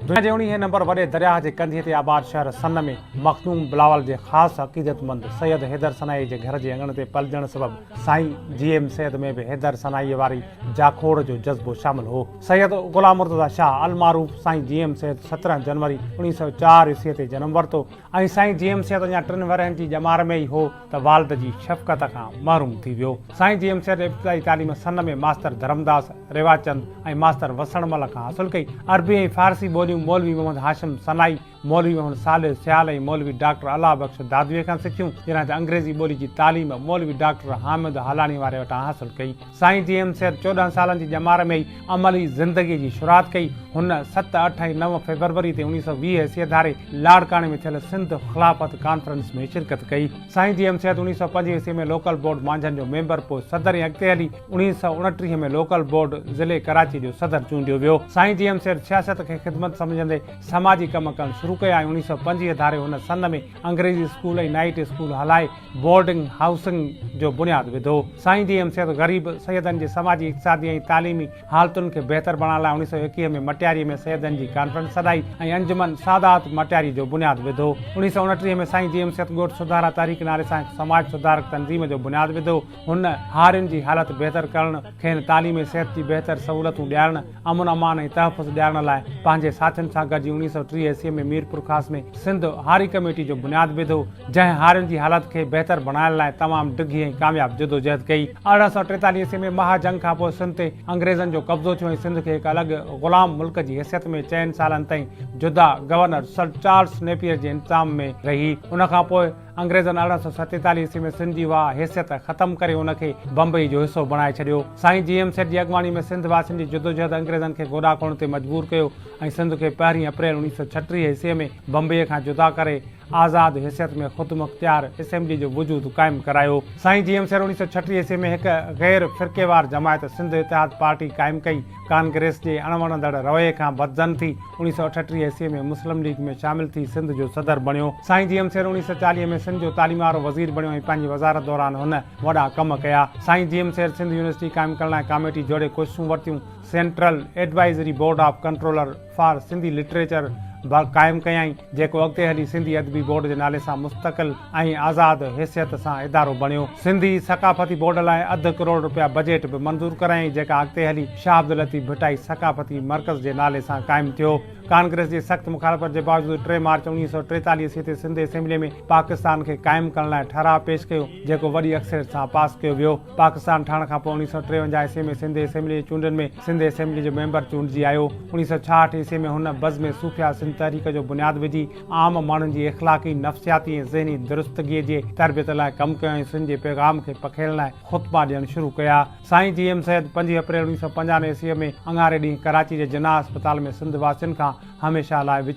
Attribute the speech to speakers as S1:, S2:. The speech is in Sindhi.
S1: دنيا جي اڻيهين نمبر وڏي درياهه جي ڪنڌيء تي آباد شهر سن ۾ مخدوم بلاول جي خاص عقيدتمند سيد حيدر سنائيء جي گهر جي اڱڻ تي پلجڻ سبب سائين جي ايم سيد ۾ به حيدر سنائيء واري جاکوڙ جو جذبو شامل هو. سيد غلام مرتضيٰ شاهه المعروف سائين جي ايم سيد سترهن جنوري اڻيهه سؤ چار عيسويء تي جنم ورتو. ۽ سائين جي ايم سيد اڃا ٽن ورهين جي ڄمار ۾ ئي هو ته والد جي شفقت کان محروم ٿي ويو. سائين جي ايم سيد ابتدائي تعليم سن ۾ ماستر ڌرمداس ريواچند ۽ ماستر وسڻ مل کان حاصل ڪئي. عربي ۽ فارسي ٻوليون مولوي محمد هاشم سنائي، مولوي محمد صالح سيال ۽ مولوي ڊاڪٽر الله بخش دادويء کان سکيون، جڏهن ته انگريزي ٻولي جي تعليم مولوي ڊاڪٽر حامد هالاڻيء واري وٽان حاصل ڪئي. سائين جي ايم سيد چوڏهن سالن جي ڄمار ۾ ئي عملي زندگيء جي شروعات ڪئي. هن ست، اٺ ۽ نو فيبروري تي اوڻيهه سؤ ويهه عيسويء ڌاري لاڙڪاڻي ۾ ٿيل سنڌ خلافت ڪانفرنس ۾ شرڪت ڪئي. سائين جي ايم سيد اوڻيهه سؤ پنج عيسوي ۾ لوڪل بورڊ مانجهن جو ميمبر، پوء صدر ۽ اڳتي هلي اوڻيهه سؤ اڻٽيهه ۾ لوڪل بورڊ ضلعي ڪراچيء جو صدر چونڊيو ويو. سائين جي ايم سيد سياست کي خدمت سمجهندي سماجي ڪم ڪرڻ شروع ڪيا ۽ اوڻيهه سؤ پنجويهه ڌاري هن سن ۾ انگريزي اسڪول ۽ نائيٽ اسڪول هلائي بورڊنگ هائوسنگ جو بنياد وڌو. سائين جي ايم سيد غريب سيدن جي سماجي، اقتصادي ۽ تعليمي حالتن کي بهتر بڻائڻ لاء اوڻيهه سؤ ايڪيهه ۾ مٽياري ۾ سيدن جي ڪانفرنس سڏائي ۽ انجمن سادات مٽياري جو بنياد وڌو. اوڻيهه سؤ اڻٽيهه ۾ سائين جي ايم سيد ڳوٺ سڌارا تحريڪ نالي سان هڪ سماج سڌارڪ تنظيم جو بنياد وڌو. هن هارين جي حالت بهتر ڪرڻ، کين تعليم ۽ صحت جي بهتر سهولتون ڏيارڻ، امن امان ۽ تحفظ ڏيارڻ لاء پنهنجي ساٿين سان گڏجي اڻيهه سؤ ٽيهه عيسوي ۾ ميرپورخاص ۾ سنڌ هاري ڪميٽي جو بنياد وڌو، جنهن هارين جي حالت کي بهتر بڻائڻ لاء تمام ڊگهي ۽ ڪامياب جدوجهد ڪئي. ارڙهن سؤ ٽيتاليهه عيسوي ۾ مها جنگ کانپوء سنڌ تي انگريزن جو قبضو ٿيو ۽ سنڌ کي هڪ الڳ غلام ملڪ جي حيثيت ۾ چئن سالن تائين جدا گورنر سر چارلس نيپيئر جي انتظام ۾ رهي. ان کانپوء. انگريزن ارڙهن سؤ ستيتاليهه عيسوي ۾ سنڌ جي اها حيثيت ختم ڪري ان کي بمبئي جو حصو بڻائي ڇڏيو. سائين جي ايم سيٺ جي اڳواڻي ۾ سنڌ واسين جي جدوجهد انگريزن کي گوڏا کوڙڻ تي مجبور ڪيو ۽ سنڌ کي پهرين اپريل اوڻيهه سؤ ڇٽيهه عيسوي ۾ بمبئي کان جدا ڪري آزاد حيثيت ۾ خودمختيار اسيمبلي جو وجود قائم ڪرايو. سائين جي ايم سيٺ اوڻيهه سؤ ڇٽيهه عيسوي ۾ هڪ غير فرقيوار جماعت سنڌ اتحاد پارٽي قائم ڪئي. ڪانگريس جي اڻ وڻندڙ رويي کان بدظن ٿي اوڻيھ سؤ اٺٽيهه عيسوي ۾ مسلم ليگ ۾ شامل ٿي سنڌ جو صدر بڻيو. سائين جي ايم سير اوڻيھ سؤ چاليهه ۾ سنڌ جو تعليم وارو وزير بڻيو ۽ پنهنجي وزارت دوران هن وڏا ڪم ڪيا. سائين جي ايم سير سنڌ يونيورسٽي قائم ڪرڻ لاء ڪاميٽي جوڙي ڪوششون ورتيون. Central advisory board of controller, for Sindhi literature به قائم ڪيائين، جيڪو اڳتي هلي سنڌي ادبي بورڊ جي نالي سان مستقل ۽ آزاد حيثيت سان ادارو بڻيو. سنڌي ثقافتي بورڊ لاء اڌ ڪروڙ رپيا بجيٽ به منظور ڪرايائين، جيڪا اڳتي هلي شاهه عبداللطيف ڀٽائي ثقافتي مرڪز جي نالي سان قائم ٿيو. ڪانگريس جي سخت مخالفت جي باوجود ٽي مارچ اوڻيهه سؤ ٽيتاليهه عيسوي تي سنڌ اسيمبلي ۾ پاڪستان کي قائم ڪرڻ لاء ٺهراء پيش ڪيو، جيڪو وڏي اڪثريت سان پاس ڪيو ويو. پاڪستان ٺهڻ کان پوء اوڻيهه سؤ ٽيونجاهه عيسوي ۾ سنڌ اسيمبلي جي چونڊن ۾ سنڌ اسيمبلي جو ميمبر چونڊجي آيو. اوڻيهه سؤ ڇاهٺ عيسوي ۾ هن بزم صوفياء سنڌ تحريڪ جو بنياد وجهي عام ماڻهن جي اخلاقي، نفسياتي ۽ ذهني درستگيء جي تربيت لاء ڪم ڪيو ۽ سنڌ جي پيغام کي پکيڙڻ لاء خطبا ڏيڻ شروع ڪيا. سائين جي ايم سيد پنجين اپريل اوڻيهه سؤ پنجاهه عيسوي ۾ اڱاري ڏينهن ڪراچي جي جناح اسپتال ۾ سنڌ واسين کان هميشه لاء وڇ.